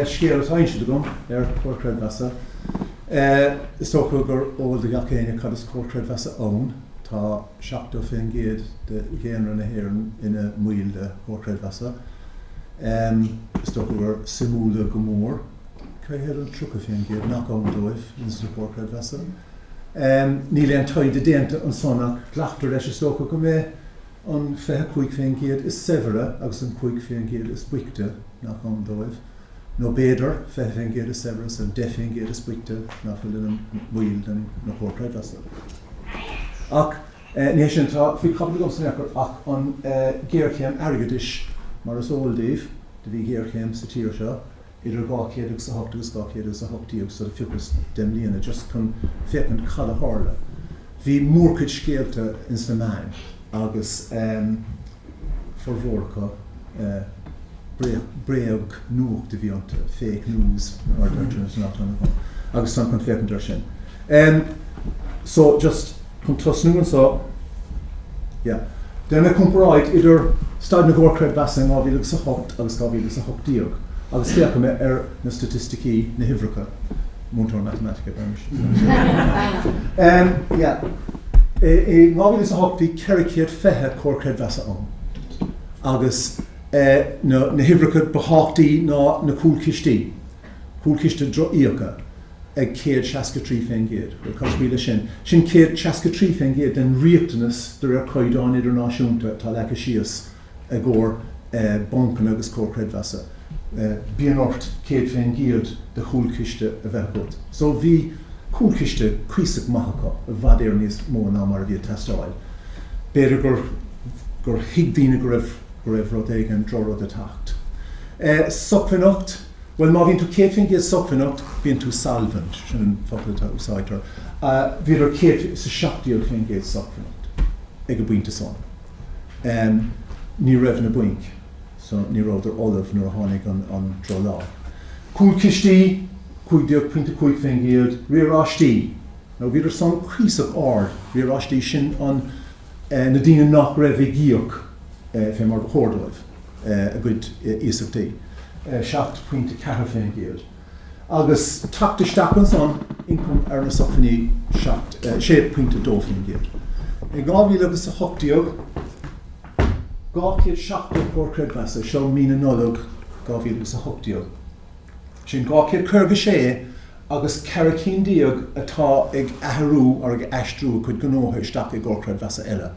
Scéal atá inste agam ar Chomhar Creidmheasa. Is dócha gur eol do gach éinne cad is Comhar Creidmheasa ann. Tá 70% de dhaonra na hÉireann ina mbaill de Chomhar Creidmheasa. Is dócha gur suimiúla go mór cé hiad an 30% nach ann dóibh ins na Comhair Chreidmheasa. Níl aon taighde déanta ansan ach glactar leis, is dócha, go mbeidh an 25% is saibhre agus an 5% is boichte nach ann dóibh, nó b'fhéidir, 20% is saibhre is an 10% is boichte nach bhfuil ina mbaill de na Comhair Chreidmheasa. Ach ní hé sin atá faoi chaibidil agamsa in aon chor ach an ghéarchéim airgeadais. Mar is eol daoibh, do bhí géarchéim sa tír seo idir dhá mhíle agus a hocht agus dhá mhíle agus a hocht déag so phiocas deich mbliana just chun féachaint cad a tharla. Bhí mórchuid scéalta ins na meáin agus formhór acu bréagnuacht a bhí iontu, fake news mar a deirtear ins an amharclannaíocht, agus táim chun féachaint air sin. Em so just chun tosnú anso, yeah, déanfaidh mé comparáid idir staid na gComhar Creidmheasa in 2000 agus 8 agus 2000 agus 18 agus féachfaidh mé ar na staitisticí, na huimhreacha, múinteoir matamaitice, mé féin. Em yeah, i 2000 agus 8 bhí 420 Comhar Creidmheasa ann agus eh na huimhreacha ba thábhachtaí ná na cúlchistí. Cúlchiste Drochfhiacha ag 163%, bhuel, cad is brí leis sin, sin 163% den riachtanas de réir caighdeáin idirnáisiúnta atá leagtha síos i gcomhair bancanna agus comhair chreidmheasa. Bíonn ort 100% de chúlchiste a bheith agat. So bhí cúlchiste cuíosach maith acu, i bhfad Éireann níos mó ná mar a bhí ag teastáil. B'fhéidir gur thuig daoine go raibh rud éigin, droch-rud ag teacht. Sócmhainneacht. Bhuel, má bhíonn tú céad faoin gcéad sócmhainneach, bíonn tú solvent, sin an focal a úsáidtear. Bhíodar céad is a seacht déag faoin gcéad sócmhainneach ag an bpointe san. Ní raibh na bainc, so ní rabhadar ullamh nuair a tháinig an droch-lá. Cúlchistí, cúig déag pointe cúig faoin gcéad, riaráistí, now bhíodar san cuíosach ard, riaráistí, sin an, na daoine nach raibh ag íoc fé mar ba chóir dóibh a gcuid iasachtaí, seacht pointe a ceathair fén gcéad, agus teacht isteach ansan ioncam ar na sócmhainní, seacht, sé pointe a dó fén gcéad. In dhá mhíle agus a hocht déag, dhá chéad seachtó comhar creidmheasa, seo mí na Nollag dhá mhíle agus a hocht déag, Sin dhá chéad caoga is sé agus ceithre cinn déag atá ag athrú or ag aistriú a gcuid gnótha isteach i gComhar Creidmheasa eile.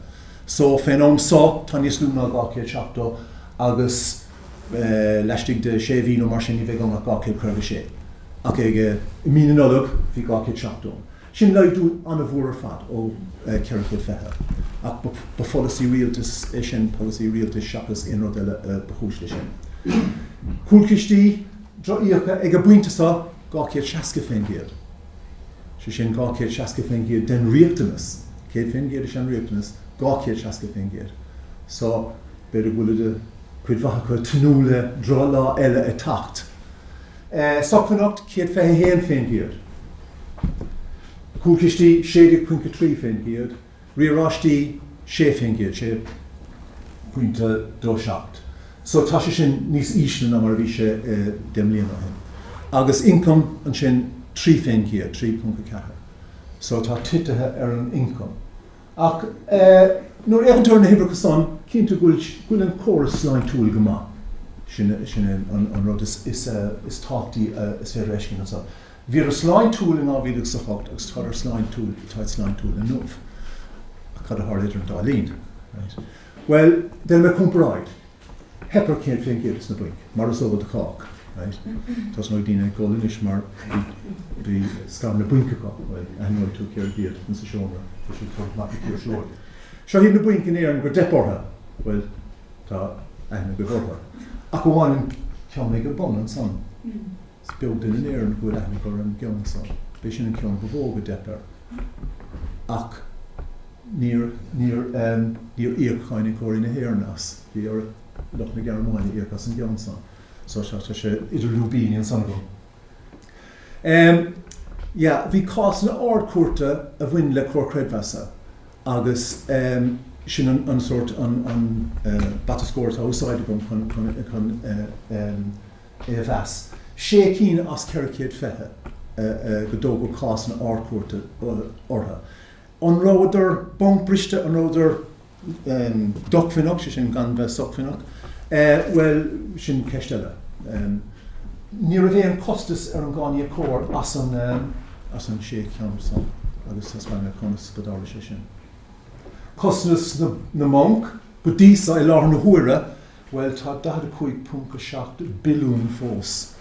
So, fén am so, tá níos lú ná dhá chéad seachtó agus laistigh de sé mhí nó mar sin ní bheidh ann ach dhá chéad caoga is sé. Ach ag, i mí na Nollag, bhí dhá chéad seachtó ann. Sin laghdú an-mhór ar fad ó 420, ach ba pholasaí rialtais é sin, polasaí rialtais seachas aon rud eile a ba chúis leis sin. Cúlchistí drochfhiacha ag an bpointe seo, 260%, sé sin 260% den riachtanas, 100% is ea an riachtanas, 260%. So, b'fhéidir go bhfuilid, cuid mhaith acu, tnúth le droch-lá eile a theacht. Sócmhainneacht céad fiche a haon fén gcéad, cúlchistí sé déag ponc a trí fén gcéad, riaráistí sé fén gcéad, sé ponc a dó seacht, so tá sé sin níos ísle ná mar a bhí sé deich mbliana ó shin. Agus ioncam ansin trí fén gcéad, trí ponc a ceathair, so tá titithe ar an ioncam. Ach nuair a fhéachann tú ar na huimhreacha san, cinnte go bhfuil an córas sláintiúil go maith. Sin é an rud is tábhachtaí is féidir a fheiscint anso. Bhíodar sláintiúil in 2000 agus 8 agus tádar sláintiúil, táid sláintiúil inniu. Ach cad a tharla idir an dá linn? Bhuel, deinim comparáid, theip ar céad fén gcéad des na bainc, mar is eol do chách, right? Tosnóidh daoine ag gol anois mar bhí scaireanna bainc acu, bhuel, aithneoidh tú cérbh iad ins an seomra, tá siad curtha amach ag Tír Seoighe. Seo iad na bainc in Éirinn go dteip orthu, bhuel, tá aithne agaibh orthu. Ach amháin an ceann ag an bun ansan. Is beag duine in Éirinn go bhfuil aithne acu ar an gceann san. B'é sin an ceann ba mhó, go dteip air. Ach níor, níor, níor íoc cáiníocóirí na hÉireann as. Bhí ar lucht na Gearmáine íoc as an gceann san. So tá, tá sé idir lúibíní ansan agam. Yeah, bhí cásanna Ard-Chúirte a bhain le Comhar Creidmheasa agus sin an, an sórt an, an bata scóir atá á úsáid agam chun, chun, chun é a mheas. Sé cinn as ceithre chéad fiche go dtógadh cásanna Ard-Chúirte orthu. An rabhadar bancbriste? An rabhadar dócmhainneach, sé sin gan bheith sócmhainneach? Bhuel, sin ceist eile. Ní raibh aon chostas ar an gcáiníocóir as an as an sé cheann san agus thaispeáin mé conas go dtarla sé sin. Costas na mbanc go dtí so i láthair na huaire Bhuel, tá 45.7 billiún fós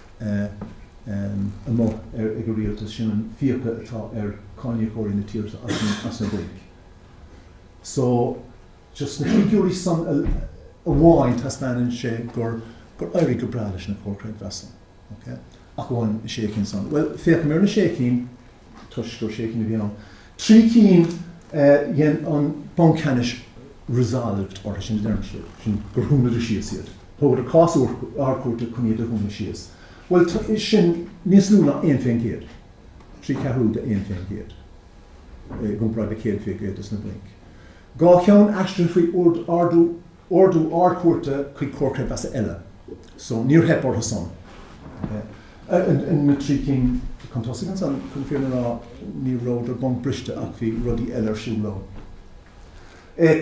amuigh ag an rialtas, sin an fiacha atá ar cáiníocóirí na tíre seo as na bainc. So, just na figiúirí san amháin taispeánann sé gur éirigh go breá leis na comhair creidmheasa. Ok. Ach amháin na sé cinn san. Bhuel, féachaimis ar na sé cinn, toisc gur sé cinn a bhí ann. Trí cinn dhein an Banc Ceannais 'resolved' orthu sin a deirim, sé sin gur dúnadh síos iad. Tógadar cás Ardchúirte chun iad a dhúnadh síos. Bhuel, sin níos lú ná aon fén gcéad, trí cheathrú de aon fén gcéad, i gcomparáid le céad fén gcéad dos na bainc. Dhá cheann aistrithe faoi ordú. ordú Ard-Chúirte chuig Comhar Creidmheasa eile. So, níor theip orthusan. Ok. Ar na trí cinn chun tosaigh ansan, chun fírinne a rá, ní rabhadar bonc briste ach bhí rudaí eile ar siúl leo.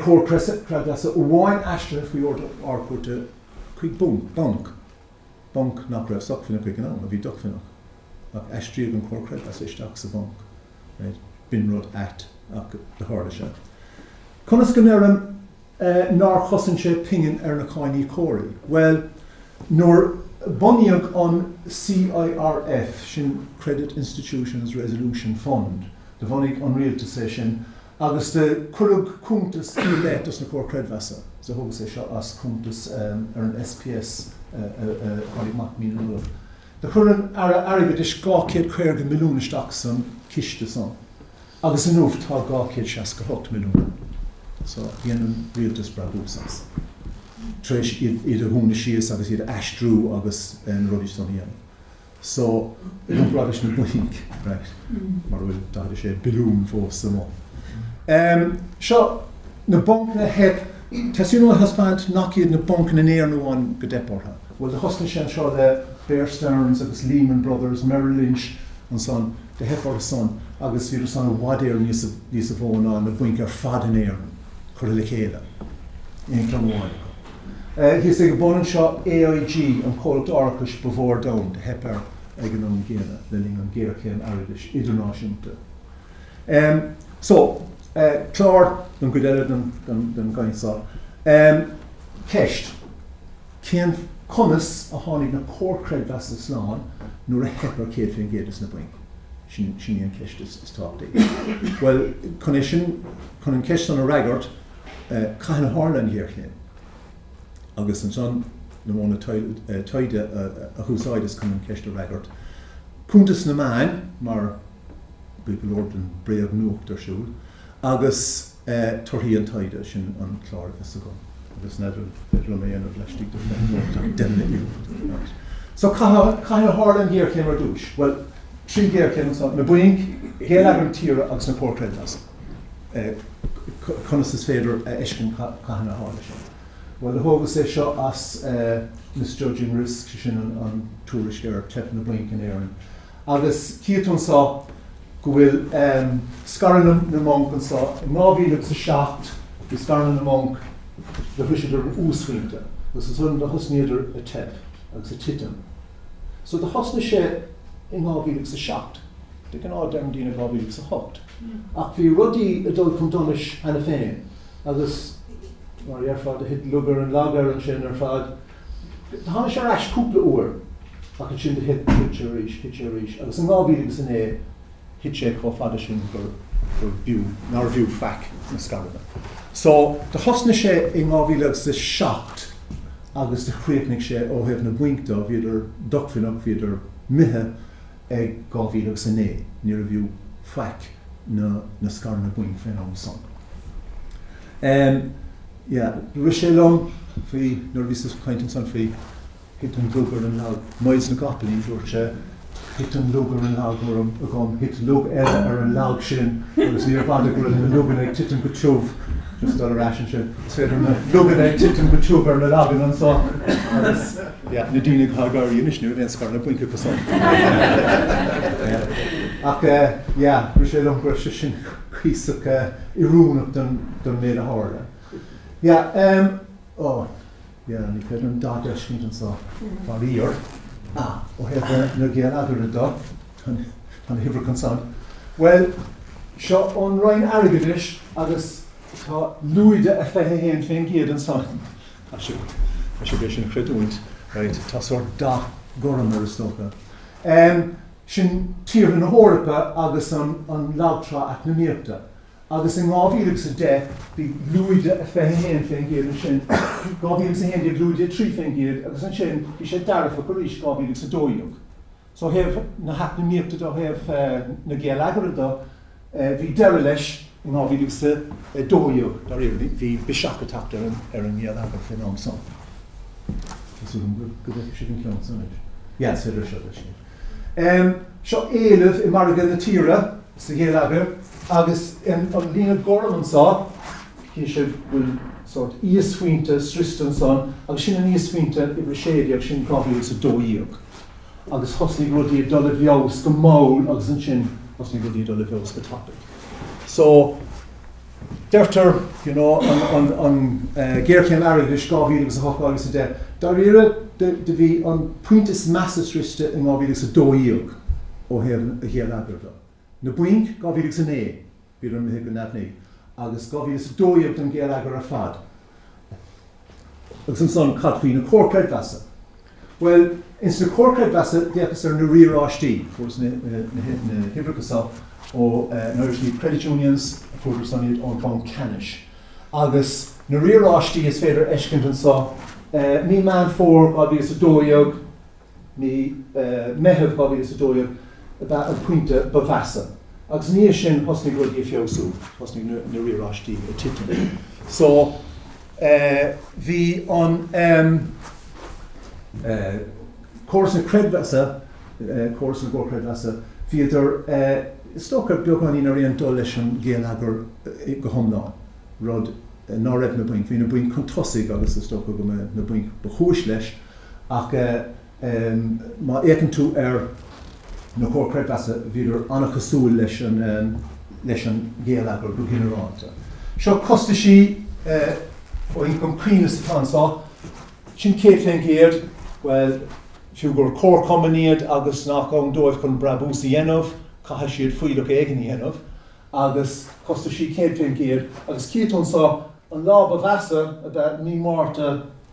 Comhar Creidmheasa amháin aistrithe faoi ordú Ard-Chúirte chuig bonc, bonc nach raibh sócmhainneach ag an am, a bhí dócmhainneach, ach aistríodh an Comhar Creidmheasa isteach sa bhonc. right? B'in rud ait ach do tharla sé. Conas go ndeirim nár chosain sé pingin ar na cáiníocóirí? Bhuel, nuair bunaíodh an CIRF, sin Credit Institutions Resolution Fund, do bhunaigh an rialtas é sin agus do cuireadh cuntas i leith dos na Comhair Creidmheasa. So thógas é seo as cuntas ar an SPS a tháinig amach mí na Nollag. Do chuir an tAire Airgeadais dhá céad caoga milliún isteach san chiste san agus inniu tá dhá céad seasca a hocht milliún ann so dhein an Rialtas brabús as tréis iad a dhúnadh síos agus iad a aistriú agus na rudaí san a dhéanamh so comparáid leis na bainc right mar a bhfuil daichead a sé billiún fós amuigh. Seo na bancanna a theip, tá súil agam a thaispeáint nach iad na bancanna in Éirinn amháin gur theip ortha. Bhuel, do thosnaigh sé anseo le Bear Stearns agus Lehman Brothers, Merrill Lynch ansan, do theip orthu san agus bhíodar san i bhfad Éireann níosa mó ná na bainc ar fad in Éirinn curtha le chéile in aon cheann amháin acu. Thíos ag an bun anseo, AIG, an comhlacht árachais ba mhó ar domhan, do theip air ag an am gcéanna le linn an ghéarchéim airgeadais idirnáisiúnta. So, clár don gcuid eile den gcaint so. Ceist. Cén, conas, a tháinig na Comhair Creidmheasa slán nuair a theip ar 100% dos na bainc? Sin, sin í an cheist is, is tábhachtaí. Bhuel, chun é sin, chun an cheist san a fhreagairt, caithfidh mé a chur ina chomhthéacs? Agus ansan, na modhanna taighde a úsáideas chun an cheist a fhreagairt, cuntas na meáin, mar, bhí go leor den bréagnuacht ar siúl agus torthaí an taighde sin an clár a bheidh agam agus n'fheadar an féidir liom é a dhéanamh laistigh de phointe amháin deich mbliana déag anuas. So cathain a tharla an ghéarchéim ar dtús? Bhuel, trí ghéarchéim anseo, na bainc, geilleagar na tíre agus na Comhair Chreidmheasa. Conas is féidir a fheiscint cathain a tharla sé? Bhuel, thógas é seo as Misjudging Risk, sé sin an tuairisc ar theip na bainc in Éirinn. Agus chífidh tú anso go bhfuil scaireanna na mbanc anso. In 2000 agus 07 bhí scaireanna na mbanc, do shroiseadar an uasphointe agus ansan do thosnaíodar ag teip agus ag titim. So do thosnaigh sé in 2000 agus 07. De ghnáth deireann daoine 2000 agus 08 ach bhí rudaí ag dul chun donais cheana féin agus mar a dheirfeá do thit lug ar an lag air ansin ar fad. Tháinig sé ar ais cúpla uair ach ansin do thit sé arís, thit sé arís agus in 2000 agus 09 thit sé chomh fada sin gur b'fhiú, nár bhfiú faic na scaireanna. So, do thosnaigh sé in 2000 agus 07 agus do chríochnaigh sé ó thaobh na bainc do, bhíodar dócmhainneach, bhíodar imithe ag 2000 agus 09, níorbh fhiú faic na scaireanna bainc fén am san. Yeah, rith sé liom faoi, nuair a bhíos ag caint ansan faoi thit an lug ar an lag, Myles na gCopaleen, dúirt sé thit an lug ar an lag agam, thit lug eile ar an lag sin agus níorbh fhada go raibh na luganna ag titim go tiubh, just dul ar ais ansin, is féidir na luganna ag titim go tiubh ar na laganna anso agus, yeah, na daoine atá ag gáire anois ní raibh aon scaireanna bainc acusan. Ach, yeah, rith sé liom go raibh sé sin. cuíosach oiriúnach don méid a tharla. Yeah, em, oh, yeah, ní féidir an dath a fheiscint anseo, faraor. Ah, ó thaobh na geilleagair do, tá na huimhreacha ansan. Bhuel, seo ón Roinn Airgeadais agus tá lúide a 21% ansan. Caithfidh sibh, caithfidh sibh é sin a chreidiúint, right, tá sórt dath gorm air is dócha. Em. sin tíortha na hEorpa agus an lagtrá eacnamaíochta, agus in 2010 bhí lúide 21% ansin, 2011 lúide 3% agus ansin bhí sé dearfach arís 2012. So ó thaobh na heacnamaíochta de, ó thaobh na geilleagar de, Bhí deireadh leis in 2012, dáiríre, bhí biseach ag teacht ar an ngeilleagar faoin am san. Seo éileamh i margadh na tíre, sa gheilleagar, agus an líne gorm anseo, chífidh sibh go bhfuil sórt íosphointe sroichte ansan, agus sin an íosphointe uimhir 16, sin 2012. agus thosnaigh rudaí ag dul i bhfeabhas go mall agus ansin thosnaigh rudaí ag dul i bhfeabhas go tapaidh. So, deirtear, you know, an ghéarchéim airgeadais 2000 agus 8 agus 10, dáiríre, do bhí an pointe is measa sroichte in 2012 ó thaobh an ghéilleagair de. Na bainc, 2009. Bhí imithe go neamhní agus 2012 don ngeilleagar ar fad. Agus ansan cad faoi na Comhar Creidmheasa? Bhuel, ins na Comhar Creidmheasa d'fhéachas ar na riaráistí, fuaireas na huimhreacha so ó an Irish Credit Unions, fuaireadar san iad ón Bhanc Ceannais. Agus na riaráistí is féidir a fheiscint anso, mí Meán Fómhair 2012, mí Meitheamh 2012 ab ea an pointe ba mheasa agus ina dhiaidh sin thosnaigh rudaí ag feabhsú, thosnaigh na riaráistí ag titim. So bhí an córas na creidmheasa, córas na gcomharchreidmheasa, bhíodar is dócha beagáinín ar aon dul leis an ngeilleagar go hiomlán, rud ná raibh na bainc, bhí na bainc chun tosaigh agus is dócha go mba iad na bainc ba chúis leis Ach má fhéacann tú ar na Comhair Creidmheasa, bhíodar an-chosúil leis an ngeilleagar go ginearálta. Seo costaisí ó ioncam cruinneas atá anso, sin 100%, bhuel, fiú gur comharchumainn iad agus nach ann dóibh chun brabús a dhéanamh, caithfidh siad fuílleach éigin a dhéanamh, agus costaisí 100%. Agus cífidh tú anso, an lá ba mheasa ab ea mí Márta,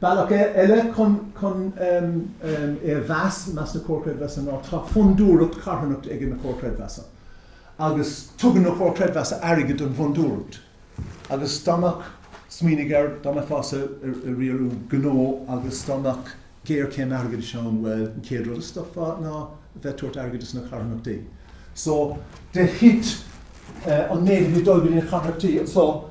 Bealach eile chun é a mheas, meas na Comhar Creidmheasa ná tá fondúireacht charthanachta ag na Comhar Creidmheasa agus tugann na Comhar Creidmheasa airgead don bhfondúireacht agus dá mbeadh, smaoinigh air, dá mbeifeá ag riaradh gnó agus dá mbeadh géarchéim airgeadais ann, bhuel, an chéad rud a stopfá ná a bheith ag tabhairt airgid dos na carthanachtaí. So, de thit an méid a bhí ag dul go dtí na carthanachtaí, so,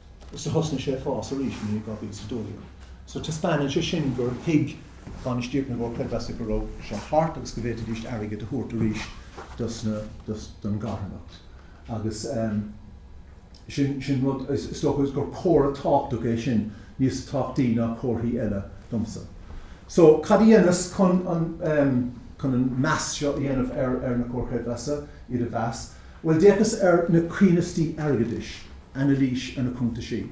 ach thosnaigh sé ag fás arís i ndiaidh 2012. So taispeánann sé sin gur thuig bainistíocht na gComhar Creidmheasa go raibh seo thart agus go bhféadfaidís airgead a thabhairt arís dos na, dos, don gcarthanacht. Agus ehm sin, sin rud, is dócha gur comhartha tábhachtach é sin, níos tábhachtaí ná comharthaí eile domsa. So cad a dheineas chun an ehm, chun an meas seo a dhéanamh ar, ar na Comhair Chreidmheasa, iad a mheas. Bhuel, d'fhéachas ar na coibhneasaí airgeadais, anailís ar na cuntaisí.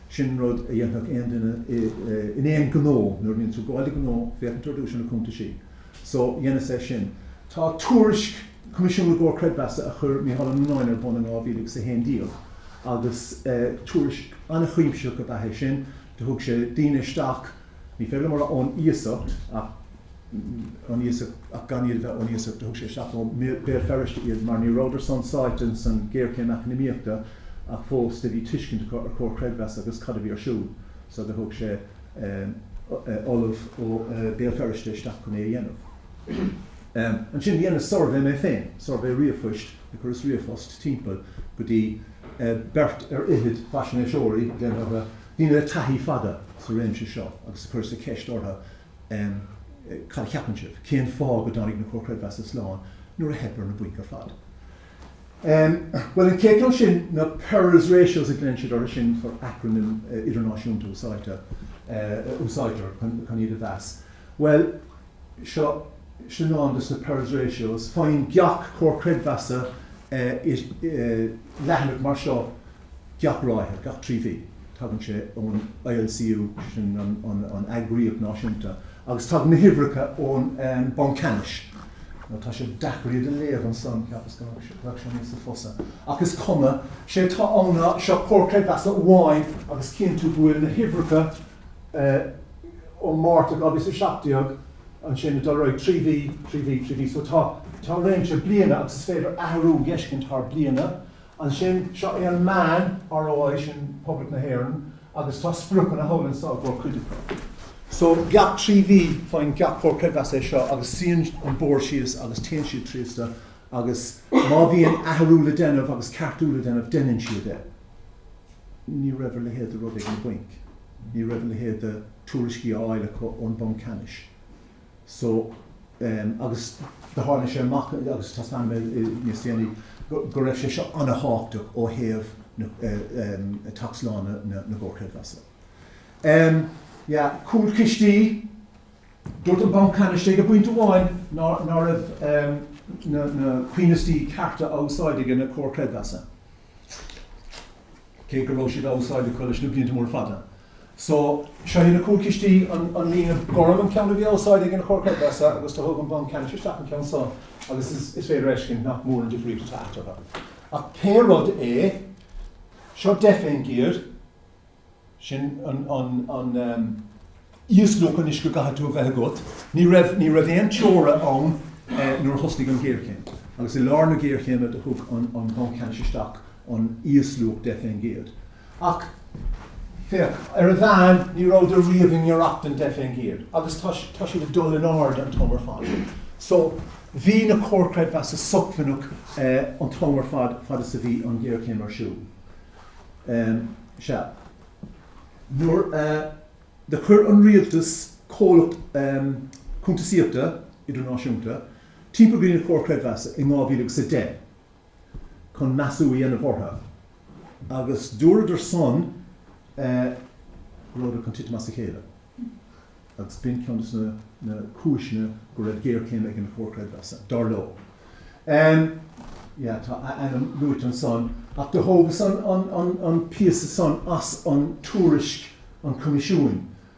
Sin rud a dhéanfadh aon duine in aon ghnó, nuair a bhíonn tú gabháil do ghnó, féachann tú ar dtús ar na cuntaisí. So, dheineas é sin. Tá tuairisc Coimisiún na gComhar Creidmheasa a chuir Micheál Ó Nuanáin ar bun in dhá mhíle agus a haon déag agus tuairisc an-chuimsitheach ab ea é sin. Do thug sé daoine isteach. Ní féidir mar ón iasacht, ón iasacht ach gan iad a bheith ón iasacht a thug sé isteach ó Bhéal Feirste iad mar ní rabhadar chomh sáite san géarchéim eacnamaíochta ach fós de bhí tuiscint acu ar Comhar Creidmheasa agus cad a bhí ar siúl so de thug sé ollamh ó Bhéal Feirste isteach chun é a dhéanamh. Ansin dheineas suirbhé mé féin, suirbhé ríomhphoist, chuireas ríomhphost timpeall go dtí beirt ar fhichid faisnéiseoirí, déanfaidh a. daoine le taithí fada sa réimse seo agus a chuireas-sa ceist orthu Cad a cheapann sibh? Cén fáth go dtáinig na Comhair Chreidmheasa slán nuair a theip ar na bainc ar fad? Bhuel, an chéad cheann sin, na Pearls Ratios a ghlaonn siad orthu sin, sórt acrainm idirnáisiúnta a úsáidtear a úsáidtear chun iad a mheas. Bhuel, seo sin ann dos na Pearls Ratios. Faigheann gach Comhar Creidmheasa leathanach mar seo. gach ráithe, gach trí mhí. Tagann sé ón ILCU, sin an eagraíocht náisiúnta, agus tagann na huimhreacha ón Banc Ceannais. Tá sé deacair iad a léamh ansan, cheapas go mbeadh sé níosa fusa, ach is cuma. Sé atá ann ná seo, Comhar Creidmheasa amháin agus chíonn tú go bhfuil na huimhreacha ó Mhárta 2017, ansin ag dul ar aghaidh trí mhí, trí mhí, trí mhí. So tá réimse bliana agus is féidir athrú a fheiscint thar bliana. Ansin, seo é an meán, ROI, sin Poblacht na hÉireann agus tá spriocanna thall anseo i gcomhair cuid acu. So, gach trí mhí faigheann gach Comhar Creidmheasa é seo agus suíonn an Bord síos agus téann siad tríosta agus má bhíonn athrú le déanamh agus ceartú le déanamh, deineann siad é. Ní raibh a leithéid de rud ag na bainc, ní raibh a leithéid de thuairiscí á fháil acu ón Bhanc Ceannais. so agus do tháinig sé amach agus taispeánfaidh mé níos déanaí go raibh sé seo ana-thábhachtach ó thaobh teacht slán na gComhar Creidmheasa. Yeah cúlchistí, dúirt an banc ceannais ag pointe amháin ná raibh na cóimheastaí cearta á úsáid aige na Comhair Chreidmheasa cé go raibh siad á úsáid acu leis na blianta móra fada. So, seo iad na cúlchistí, an líne gorm an ceann a bhí á úsáid aige na Comhair Chreidmheasa agus do thug an Banc Ceannais isteach an ceann seo agus is féidir a fheiscint nach mór an difríocht atá eatarthu. Ach pé rud é, seo deich fén gcéad, sin an íosluach anois go gcaithfidh tú a bheith agat. Ní raibh, ní raibh aon teora ann nuair a thosnaigh an ghéarchéim agus i lár na géarchéime do thug an Banc Ceannais isteach an íosluach deich fén gcéad. Ach, féach, ar a mheán, ní rabhadar riamh i ngiorracht don deich fén gcéad, agus tá siad ag dul in airde an t-am ar fad. So, bhí na Comhair Creidmheasa sócmhainneach an t-am ar fad, fad is a bhí an ghéarchéim ar siúl. Sea. Nuair a chuir an rialtas comhlacht cuntasaíochta idirnáisiúnta timpeall go dtí na Comhair Creidmheasa in 2010 chun measú a dhéanamh orthu, Agus dúradar san, go rabhadar chun titim as a chéile. Agus b'in ceann des na cúiseanna go raibh géarchéim ag an Chomhar Creidmheasa, dar leo. Yeah, tá a ainm luaite ansan. Ach do thógas an píosa san as an tuairisc an Choimisiúin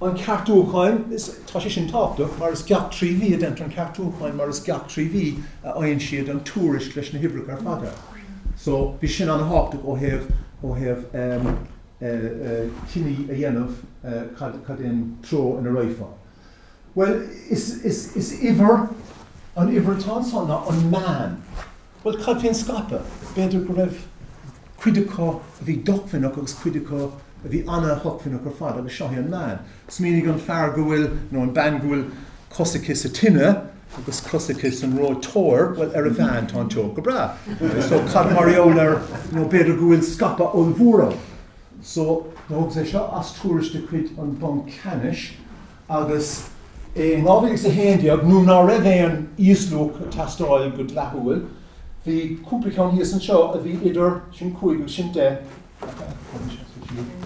an ceartúcháin, tá sé sin tábhachtach, mar is gach trí mhí a deintear an ceartúcháin, mar is gach trí mhí a fhaigheann siad an tuairisc leis na huimhreacha ar fad air. So, bhí sin an-tábhachtach ó thaobh, ó thaobh ehm, eh, eh, cinneadh a dhéanamh eh, cad, cad é an treo ina raghfá. Bhuel, is, is, is uimhir, an uimhir atá ansan ná an meán. Bhuel, cad faoin scaipeadh? B'fhéidir go raibh cuid acu a bhí dócmhainneach agus cuid acu a bhí ana-shócmhainneach ar fad agus seo é an meán. Smaoinigh an fear go bhfuil, nó an bean go bhfuil cos aici sa tine agus cos aici san reoiteoir, bhuel, ar a mheán tá an teocht go breá. So, cad mar gheall ar, you know, b'fhéidir go bhfuil scaipeadh ollmhór ann. So, thógas é seo as tuairisc de chuid an Bhanc Ceannais. agus é in 2011, nuair ná raibh aon íosluach ag teastáil go dleathúil, bhí cúpla ceann thíos anseo a bhí idir sin cúig agus sin deich,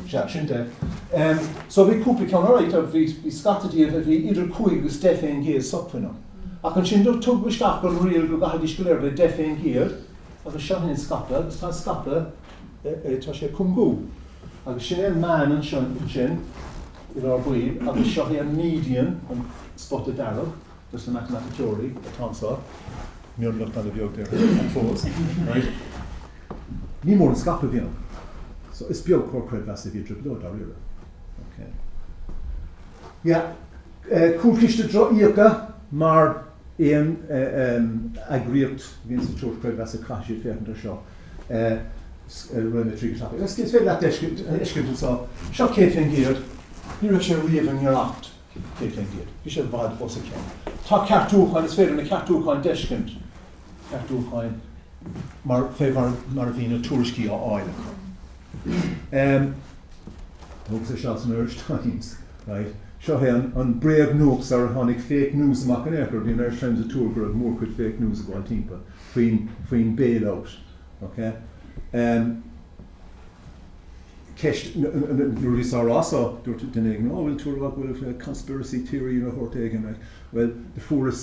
sea, sin deich, so bhí cúpla ceann, alright, bhí scata díobh a bhí idir cúig agus deich fén gcéad sócmhainneach. Ach ansin tugadh isteach an riail go gcaithfidís go léir bheith deich fén gcéad agus seo é an scaipeadh agus tá an scaipeadh, tá sé ag cúngú agus sin é an meán ansin. An rud buí, agus seo é an median, an spota dearg, dos na matamaiticeoirí atá anseo, mionlach ana bheag déarfainn, ach fós, right? Ní mór an scaipeadh a bhí ann. So is beag comhar creidmheasa a bhí i dtrioblóid, dáiríre. Okay. Yeah. Eh, cúlchiste drochfhiacha mar. aon eagraíocht a bhíonn sa tionscal creidmheasa caithfidh siad féachaint ar seo i roinn 3 go tapaidh. Is féidir leat fheiscint anseo, seo 100%, ní raibh sé riamh i ngiorracht 100%, bhí sé i bhfad os a cionn. Tá ceartúcháin, is féidir na ceartúcháin d'fheiscint, ceartúcháin mar fé mar a bhí na tuairiscí á fháil acu. Thug sé seal san Irish Times, right. Seo é an bréagnuacht sarar tháinig fake news amach in aon chor, bhí an Irish Times ag tuar go raibh mórchuid fake news ag gabháil timpeall faoin, faoin bailout, okay. Ceist, nuair a bhíos á rá so, dúirt duine éigin, oh bhfuil tú a' rá go bhfuil conspiracy theory de shórt éigin, right. Bhuel, fuaireas,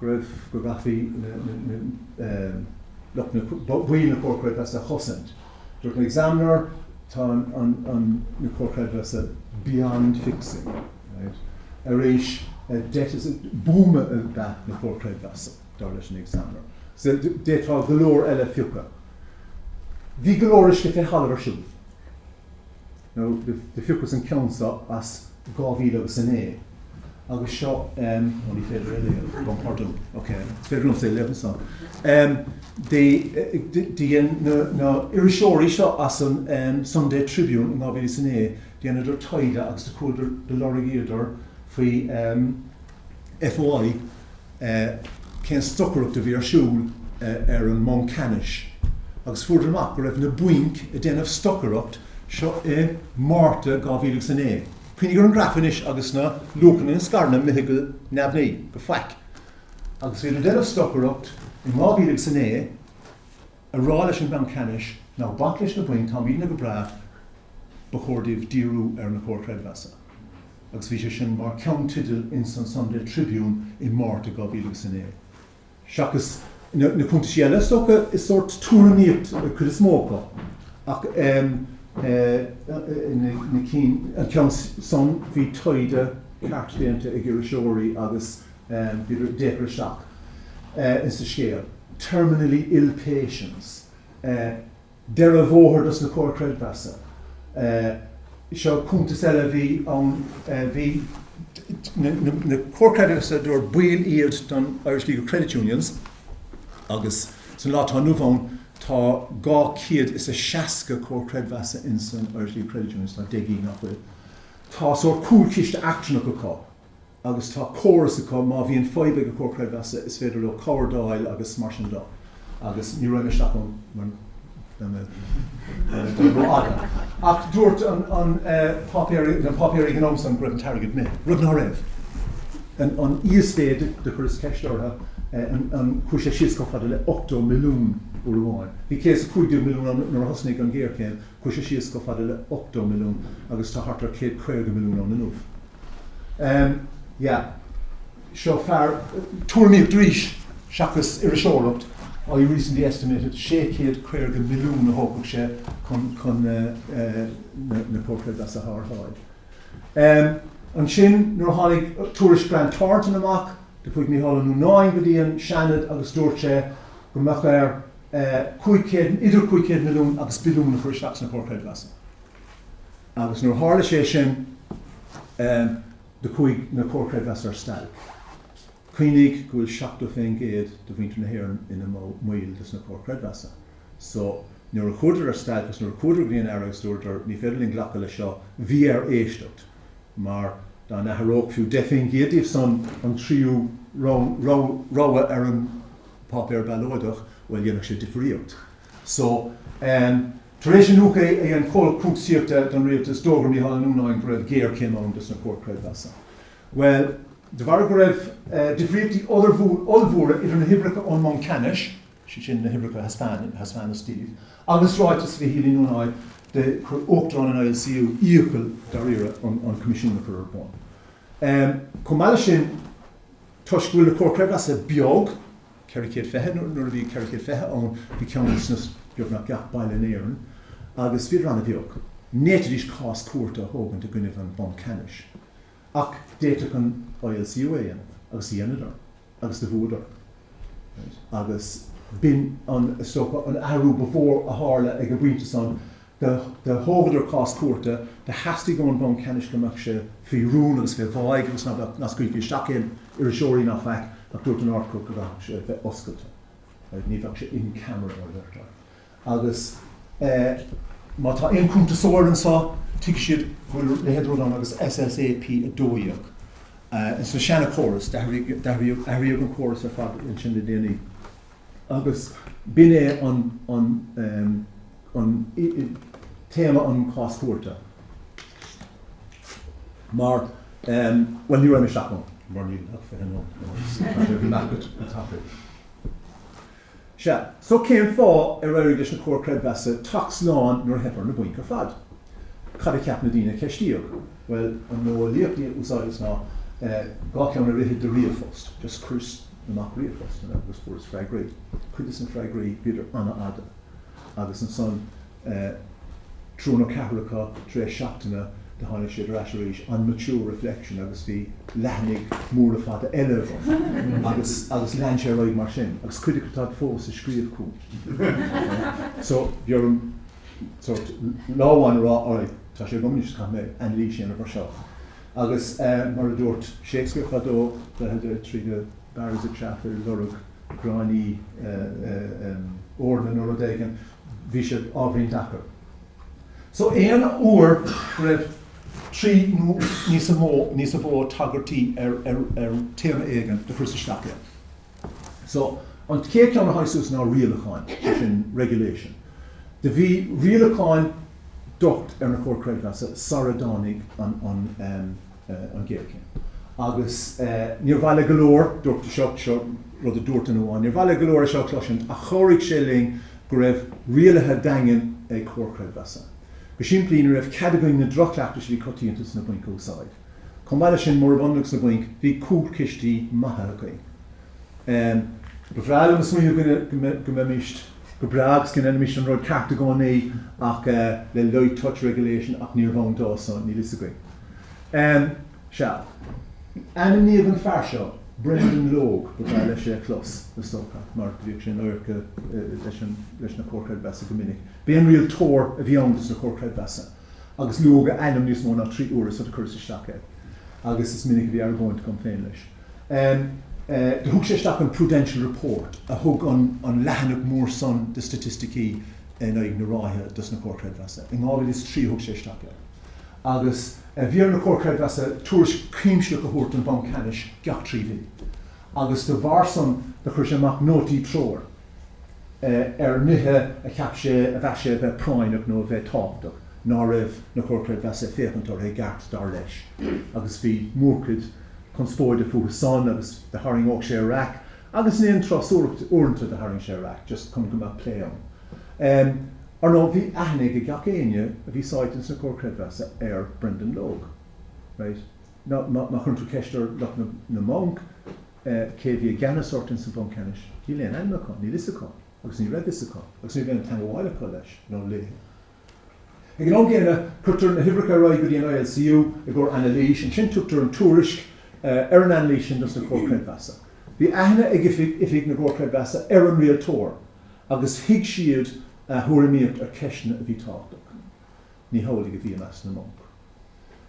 go raibh, go gcaithfí na, na, na, lucht na, baill na Comhar Creidmheasa a chosaint. Dúirt an Examiner tá an, an, an, na Comhar Creidmheasa beyond fixing, right. Arís, a debt is a, buama a bhí at na Comhar Creidmheasa, dar leis an Examiner. So, d'fhéadfá go leor eile a phiocadh. Bhí go leor uisce fé thalamh ar siúl. nó do phiocas an ceann seo as dhá mhíle agus a naoi agus seo em ó ní féidir é a léamh gabhaim pardún ok is féidir liomsa é a léamh ansan em de de dhein na na iriseoirí seo as an em Sunday Tribune in dhá mhíle is a naoi dheineadar taighde agus do chuadar, do lorgaíodar faoi em FOI, cén stocaireacht a bhí ar siúl ar an mBanc Ceannais agus fuaireadar amach go raibh na bainc a' déanamh stocaireacht seo i Márta 2009. Cuimhnigh ar an graf anois agus na luachanna ins na scaireanna imithe go neamhní go faic agus bhíodar ag déanamh stocaireacht in 2009 ag rá leis an mBanc Ceannais ná bac leis na bainc táimidne go breá ba chóir daoibh díriú ar na Comhair Chreidmheasa. agus bhí sé sin mar cheannteideal ins an Sunday Tribune i Márta 2009. Seachas na cuntaisí eile, is dócha, is sórt tuairimíocht an chuid is mó acu, ach na cinn, an ceann san, bhí taighde ceart déanta ag iriseoirí agus bhíodar ag féachaint isteach ins an scéal, 'terminally ill patients', deireadh bóthair dos na Comhair Creidmheasa. Seo cuntas eile a bhí ann, bhí na Comhair Creidmheasa abair baill iad den Irish League of Credit Unions agus san lá atá inniu ann tá 260 Comhar Creidmheasa insan Irish League of Credit Unions, tá 10 gcinn nach bhfuil. Tá sórt cúlchiste achtúireach acu. agus tá córas acu, má bhíonn fadhb ag an Comhar Creidmheasa, is féidir leo cabhair d'fháil agus mar sin de, agus ní raghaidh mé isteach ann mar bheadh sé rófhada, ach dúirt an páipéar, na páipéir ag an am san go raibh an t-airgead imithe, rud ná raibh. An íosmhéid do chuireas ceist orthu a chuaigh sé síos chomh fada le 80 milliún uair amháin. Bhí 115 milliún ann nuair a thosnaigh an ghéarchéim, Chuir sé síos go fada le hochtó milliún agus tá thart ar chéad caoga milliún ann inniu. Em, yeah. Seo fear, tuairimíocht arís seachas iriseoireacht, I recently estimated sé chéad caoga milliún a thógfadh sé chun, chun na, na Comhair Chreidmheasa a tharrtháil. Em, ansin nuair a tháinig tuairisc Grant Thornton amach, do chuaigh Micheál Ó Nuanáin go dtí an Seanad agus dúirt sé go mbeadh air 500, idir 500 milliún agus billiún a chur isteach sna Comhair Creidmheasa agus nuair a tharla sé sin do chuaigh na Comhair Creidmheasa ar stailc. Cuimhnigh go bhfuil 70% de mhuintir na hÉireann ina mbaill des na Comhair Creidmheasa so nuair a chuadar ar stailc agus nuair a chuadar go dtí an tAire agus dúradar ní féidir linn glacadh leis seo bhí air éisteacht mar dá n-athródh fiú 10% díobh san an tríú rogha ar an páipéar ballóide, bhuel, dhéanfadh sé difríocht. So, em, tar éis an iniúchadh a dhein comhlacht cuntasaíochta don rialtas, d'fhógair Micheál Ó Nuanáin go raibh géarchéim ann dos na Comhair Creidmheasa. Bhuel, de bharr go raibh, eh, difríochtaí ollmhór, ollmhóra idir na huimhreacha ón mBanc Ceannais, sé sin na huimhreacha a thaispeáin, a thaispeánadh Steve, agus ráiteas Mhichíl Uí Nuanáin, do chuir Uachtarán an ILCU iachall, dáiríre, ar an Coimisiún a chur ar bun. Chomh maith leis sin, toisc go bhfuil na Comhair Creidmheasa beag, ceithre chéad fiche, nuair a bhí ceithre chéad fiche ann bhí ceann ins beagnach gach baile in Éirinn, agus bhíodar an-bheag, ní fhéadfaidís cás cúirte a thógaint i gcoinnibh an Bhanc Ceannais. Ach d'fhéadfadh an ILCU é a dhéanamh, agus dheineadar. agus do bhuadar. Agus b'in an stopadh, an t-athrú ba mhó a tharla ag an bpointe san, do thógadar cás cúirte, do theastaigh ón mBanc Ceannais go mbeadh sé faoi rún agus fé cheilt agus ná beadh, ná scaoilfí isteach aon iriseoirí ná faic ach dúirt an Ard-Chúirt go gcaithfeadh sé bheith oscailte. Ní bheadh sé in camera, mar a deirtear. Agus má tá aon chuntasóir anseo, tuigfidh siad go bhfuil a leithéid de rud ann agus SSAP 12. Ins na seana chórais, d'athraíodh athraíodh an córas ar fad ansin le déanaí. Agus b'in é an an an téama an chás-chuarta. Mar, bhuel, ní raghaidh mé isteach ann, mar níl ach fiche nóiméad agam. Bhí Mac ag an taifead. Sea, so cén fáth ar éirigh leis na Comhair Creidmheasa teacht slán nuair a theip ar na bainc ar fad? Cad a cheap na daoine a ceistíodh? Bhuel, an mhodheolaíocht a úsáideas is ná dhá cheann a rith trí ríomhphost, just chuireas amach ríomhphostanna agus fuaireas freagraí. Cuid de na freagraí, bhíodar an-fhada agus ansan, Triúr nó ceathrar acu tar éis seachtaine do thánadar ar ais arís, on mature reflection agus bhí leathanaigh mhóra fada eile agam agus agus lean sé ar aghaidh mar sin agus cuid acu táid fós ag scríobh chugam. So bhí orm sórt lá amháin a rá alright tá sé agam anois caithfidh mé anailís a dhéanamh air seo agus mar a dúirt Shakespeare fadó two, three barrels of chaff ar lorg gráinní eorna nó rud éigin. bhí siad á roinnt acu. So aon uair go raibh trí nó níos mó, níos mó tagairtí ar, ar, ar téama éigin, do chuireas isteach iad. So an chéad ceann a tháinig suas ná rialacháin, sé sin regulation. Do bhí rialacháin docht ar na Comhair Creidmheasa sara dtáinig an, an, an ghéarchéim. Agus níor mhaith le go leor, dúirt, seo rud a dúirt duine amháin, níor mhaith le go leor é seo a chloisint ach chabhraigh sé linn go raibh rialacha daingne ag Comhar Creidmheasa. Go simplí, ní raibh cead againn na drochchleachtais a bhí coitianta sna bainc a úsáid. Chomh maith leis sin, murab ionann agus na bainc, bhí cúlchistí maithe againn. Ba bhreá liom a smaoineamh go mbeimís go breá agus go ndéanfaimís an rud ceart i gcónaí ach le light touch regulation ach níorbh ann dó so níl fhios againn. Em, sea. Ainmníodh an fear seo, Brendan Logue, ba bhreá leis é a chlos, is dócha, mar bhíodh sé in adharca leis an, leis na Comhair Chreidmheasa go minic. B'é an rialtóir a bhí ann dos na Comhair Chreidmheasa agus luadh a ainm níos mó ná trí huaire so chuireas isteach é agus is minic a bhí argóint agam féin leis. Em, eh, do thug sé isteach an Prudential Report a thug an, an leathanach mór san de staitisticí in aghaidh na ráithe dos na Comhair Chreidmheasa. I 2003 a thug sé isteach é. agus bhí ar na Comhair Creidmheasa tuairisc chuimsitheach a thabhairt don Bhanc Ceannais gach trí mhí, agus de bharr san do chuir sé amach nótaí treorach ar nithe a cheap sé a mheas sé a bheith práinneach nó a bheith tábhachtach ná raibh na Comhair Creidmheasa ag féachaint orthu i gceart dar leis agus bhí mórchuid conspóide fúthu san agus do tharraingíodh sé raic Agus in aon turas uaireanta do tharraing sé raic, just chun go mbeadh plé ann. Ar ndóigh, bhí aithne ag ag gach éinne a bhí sáite ins na Comhar Creidmheasa ar Brendan Logue. Right. Now, má chuireann tú ceist ar lucht na na mbanc cé a bhí i gceannas orthu ins an Bhanc Ceannais, níl aon aidhm acu, níl fhios acu, agus ní raibh fhios acu, agus ní raibh aon teangabháil acu leis nó léithe. Ag an am gcéanna, cuirtear na huimhreacha ar aghaidh go dtí an ILCU i gcomhair anailís, ansin tugtar an tuairisc ar an anailís sin dos na Comhair Creidmheasa. Bhí aithne ag oifigigh na gComhar Creidmheasa ar an rialtóir agus thuig siad a thuairimíocht ar cheisteanna a bhí tábhachtach. Ní hamhlaidh a bhí i measc na mbanc.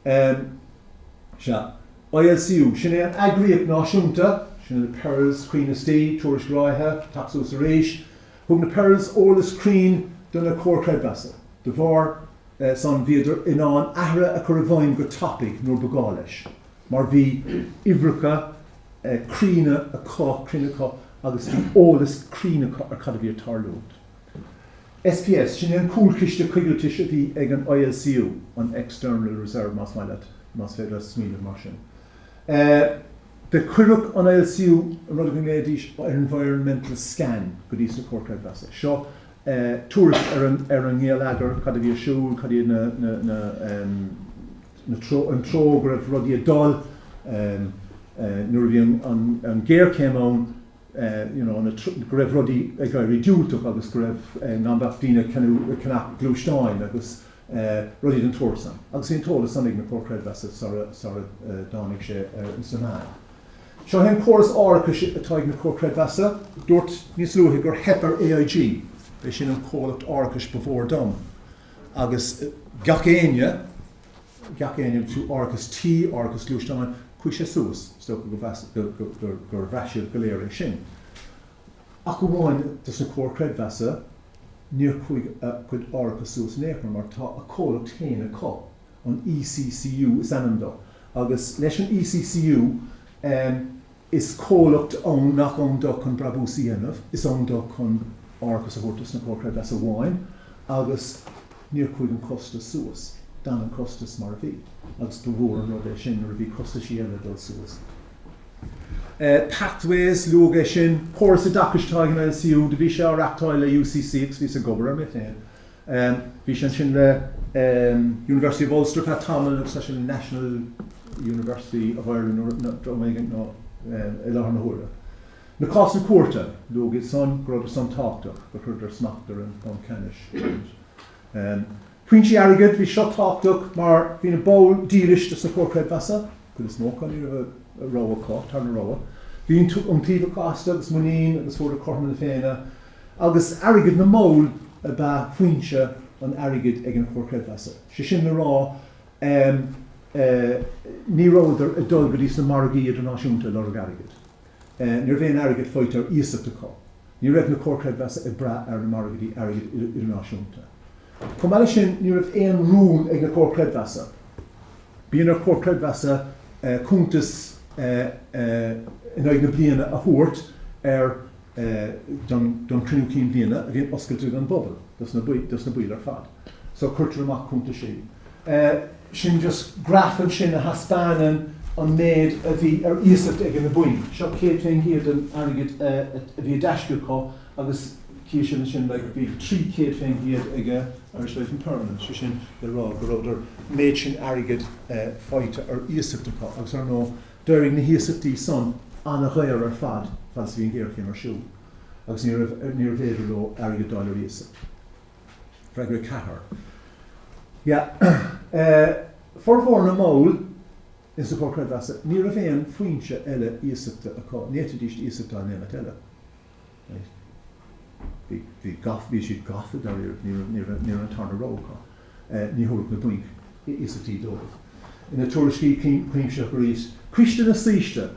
Em, sea. ILCU, sin é an eagraíocht náisiúnta, sin na Pearls, Caoin is Dee, Tuairisc Ráithe, Teacht Suas Arís. Thug na Pearls eolas cruinn do na Comhair Chreidmheasa. De bharr eh san bhíodar in ann athruithe a chur i bhfeidhm go tapaidh nuair ba gá leis mar bhí uimhreacha eh cruinne acu, cruinn acu agus bhí eolas cruinn acu ar cad a bhí ag tarlúint. SPS, Sin é an cúlchiste coigiltis a bhí ag an ILCU, an External Reserve más maith leat, más féidir leat smaoineamh mar sin air. Do chuireadh an ILCU, an rud a nglaoidís air environmental scan, go dtí sna Comhair Chreidmheasa. Seo tuairisc ar an ngeilleagar, cad a bhí ar siúl, cad iad na, na, na, an treo go raibh rudaí ag dul nuair a bhí an, an, an ghéarchéim ann. you know, na, go raibh rudaí ag éirí diúltach agus go raibh, eh, nach mbeadh daoine ag ceannach, ag ceannach gluaisteáin agus, eh, rudaí den tsórt san. Agus bhí an t-eolas san ag na Comhair Chreidmheasa sara, sara, eh, dtáinig sé, eh, sna meáin. Seo é an córas árachais atá ag na Comhair Chreidmheasa. Dúrt níos luaithe gur theip ar AIG, b'é sin an comhlacht árachais ba mhó ar domhan, agus, eh, gach éinne, gach éinne má tá árachas tí, árachas gluaisteáin, chuaigh sé suas, is dócha gur bhraith sibh go léir é sin, ach amháin dos na Comhair Creidmheasa, níor chuaigh a gcuid árachas suas in aon chor mar tá a comhlacht féin acu, an ECCU is ainm dó agus leis an ECCU, Is comhlacht ann nach ann dó chun brabús a dhéanamh, is ann dó chun árachas a thabhairt dos na Comhair Chreidmheasa amháin agus níor chuaigh an costas suas, d'fhan an costas mar a bhí agus ba mhór an rud é sin nuair a bhí costaisí eile ag dul suas. Pathways, luadh é sin, córas oideachais atá ag an ILCU, do bhí sé á reachtáil le UCC agus bhíos ag obair air mé féin, Em, bhí sé ansin le, em, University of Ulster feadh tamaill agus tá sé le National University of Ireland nuair a, na, am éigin nó, em, i láthair na huaire. Na cásanna cúirte, luadh iad san, go rabhadar san tábhachtach, gur chuireadar smacht ar an, mBanc Ceannais. Em, foinsí airgid, bhí seo tábhachtach mar bhí na baill dílis do sna Comhair Creidmheasa, Cuid is mó acu ní raibh rogha acu, tarna rogha. Bhí iontaoibh acu astu agus muinín agus fuaireadar cothrom na féinne. Agus airgead na mball ab ea foinse an airgid ag an Chomhar Creidmheasa. Sé sin le rá ní rabhadar ag dul go dtí sna margaí idirnáisiúnta ag lorg airgid. Ní raibh aon airgead faighte ar iasacht acu, ní raibh na Comhair Creidmheasa ag brath ar na margaidí airgid idirnáisiúnta. Chomh maith leis sin, ní raibh aon rún ag na Comhair Creidmheasa. Bíonn ar Chomhair Creidmheasa cuntas in aghaidh na bliana a thabhairt ar don Chruinniú Cinn Bhliana a bhíonn oscailte don bpobal, dos na baill ar fad. So cuirtear amach cuntais í. Sin just graf ansin a thaispeánann an méid a bhí ar iasacht ag na bainc. Seo céad fén gcéad den airgead a bhí i dtaisce acu agus tchíonn sibh ansin like bhí trí chéad fén gcéad ag Irish Life and Permanent, sé sin le rá go rabhadar méid sin airgid faighte ar iasacht acu agus ar ndóigh d'éirigh na hiasachtaí san an-dhaor ar fad fad is a bhí an ghéarchéim ar siúl agus ní raibh, níorbh fhéidir leo airgead d'fháil ar iasacht. Freagra 4. Yeah, eh, formhór na mball in sa Chomhar Creidmheasa, ní raibh aon foinse eile iasachta acu, ní fhéadfaidíst iasacht a fháil aon áit eile. Right. Bhí, bhí, gaff, bhí siad gafa, dáiríre, ní raibh, ní raibh an tarna rogha acu. Eh, ní thabharfadh na bainc. iasachtaí dóibh. Ina tuairiscí cuimsitheacha arís, Coiste na Saoiste,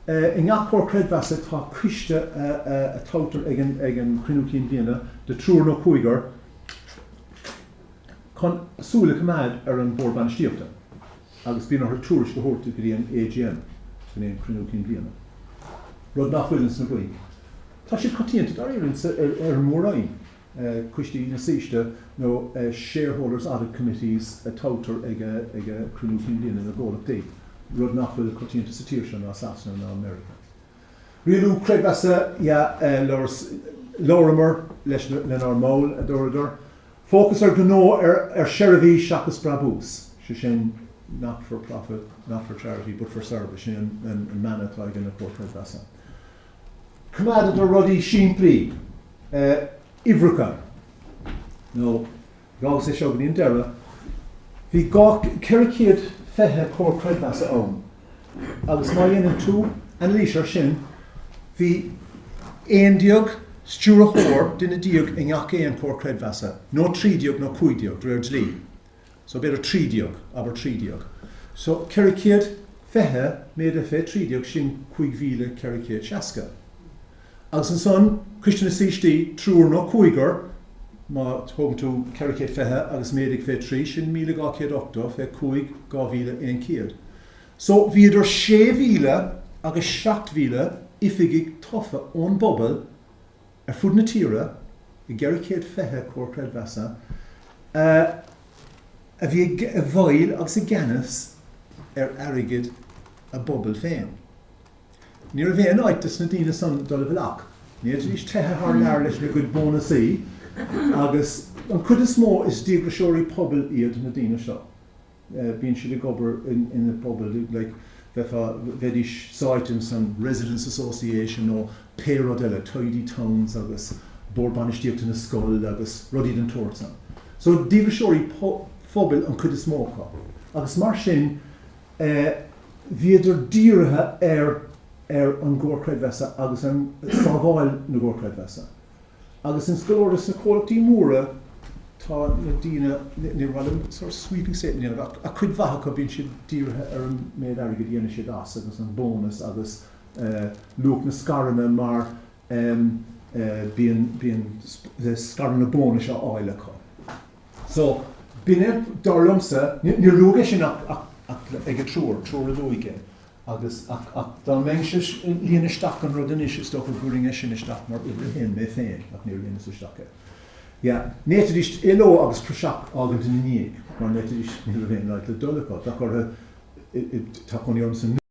I ngach comhar creidmheasa tá coiste a toghtar ag an Chruinniú Cinn Bhliana de thriúr nó cúigear chun súil a choimeád ar an Bhord Bainistíochta agus bíonn orthu tuairisc a thabhairt go dtí an AGM, go dtí an Cruinniú Cinn Bhliana, rud nach bhfuil ins na bainc. Tá siad coitianta dáiríre ar an Mór-Roinn. coistí na saoiste nó 'shareholders' audit committees' a toghtar ag cruinniú cinn bliana na gcomhlachtaí, rud nach bhfuil coitianta sa tír seo, ná Sasana, ná Meiriceá. Rialú creidmheasa, ya, labhramar lenár mball, a dúradar. Fócas ar ghnó, ar sheirbhís seachas brabús, sé sin 'not for profit, not for charity, but for service', sin an mana atá ag na Comhair Chreidmheasa. Coimeádadar rudaí simplí. Uimhreacha. Now, d'fhágas é seo go dtí an deireadh. Bhí dhá, ceithre chéad fiche Comhar Creidmheasa ann agus má dhéanann tú anailís air sin, bhí aon déag stiúrthóir, duine déag i ngach aon Chomhar Creidmheasa, nó trí déag nó cúig déag, de réir dlí. So b'fhéidir trí déag, abair trí déag. So ceithre céad fiche méadaithe fé trí déag, sin cúig mhíle ceithre céad seasca. Agus ansan, Coiste na Saoistí, triúr nó cúigear, má thógann tú ceithre céad fiche agus méadaigh fé trí, sin míle dhá céad ochtó fé cúig, dhá mhíle aon chéad. So bhí idir sé mhíle agus seacht mhíle oifigigh tofa ón bpobal ar fud na tíre i gceithre chéad fiche comhar creidmheasa a bhí i bhfeighil agus i gceannas ar airgead a bpobail féin. Ní raibh aon áit dos na daoine san dul i bhfolach. N'fhéadfaidís teitheadh thar lear leis na gcuid bónasaí agus an chuid is mó is díograiseoirí pobail iad na daoine seo. bíonn siad ag obair ina bpobail, like bheifeá, bheidís sáite in san residents' association nó pé rud eile, tidy towns agus bord bainistíochta na scoile agus rudaí den tsórt san. So díograiseoirí phobail an chuid is mó acu agus mar sin eh bhíodar dírithe ar, ar an gComhar Creidmheasa agus an, sábháil na gComhar Creidmheasa. Agus ins go leor des na comhlachtaí móra, tá na daoine, níor mhaith liom sort of sweeping statement a dhéanamh ach cuid mhaith acu, bíonn siad dírithe ar an méid airgid a dhéanann siad as agus an bonus agus luach na scaireanna mar bíonn, bíonn scaireanna bónais á fháil acu. So, bíonn, dar liomsa, níor luaigh é sin ach ag an triúr, triúr a luaigh é. Agus, ach, ach, dá mbeinnse ag líonadh isteach an rud anois, is dócha go gcuirfinn é sin isteach mar uimhir a haon mé féin, ach níor líonas isteach é. Yeah. N'fhéadfaidís éaló agus praiseach a fhágaint ina ndiaidh, mar n'fhéadfaidís, ní raibh aon áit le dul acu, bheadh orthu, tá cónaí orm sa,